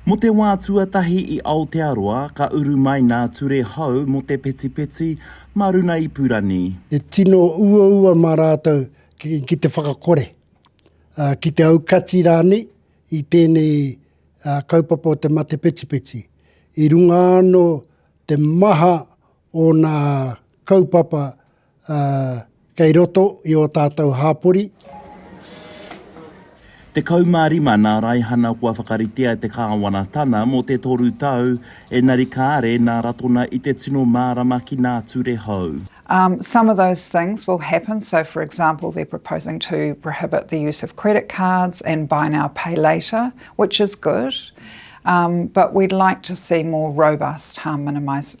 Mo te wā tuatahi i Aotearoa ka uru mai nā Ture Hou mo te petipeti ma runa i Purani. E tino uaua ma rātou ki te whakakore, ki te aukati rānei i tēnei kaupapa o te mate petipeti. I runga ano te maha o nā kaupapa ā, kei roto i ō tātou hāpori. 15 nā raihana kua whakaritea te kāwanatana mō te toru tau, ēnari kāre nā ratona i te tino mārama ki nā ture hou. Um, some of those things will happen, so for example they're proposing to prohibit the use of credit cards and buy now pay later, which is good, um, but we'd like to see more robust harm minimisation.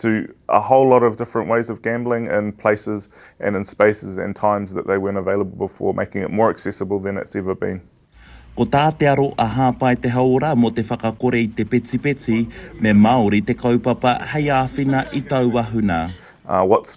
to a whole lot of different ways of gambling in places and in spaces and times that they weren't available before, making it more accessible than it's ever been. Ko tā te aro a Hāpai Te Hauora mō te whakakore i te petipeti, me Māori te kaupapa hei āwhina i taua huna. What's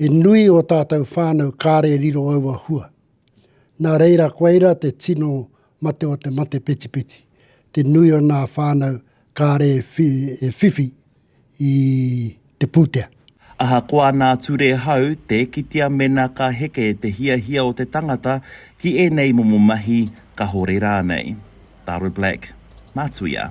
He nui ō tātou whānau kāre riro aua hua. Nā reira koa ira te tino mate o te mate petipeti, te nui o nā whānau kāre e whiwhi i te pūtea. Ahakoa nā ture hau, tē kitea mēnā ka heke te hiahia o te tangata ki ēnei momo mahi, kahore rānei. Taro Black, Mātuia.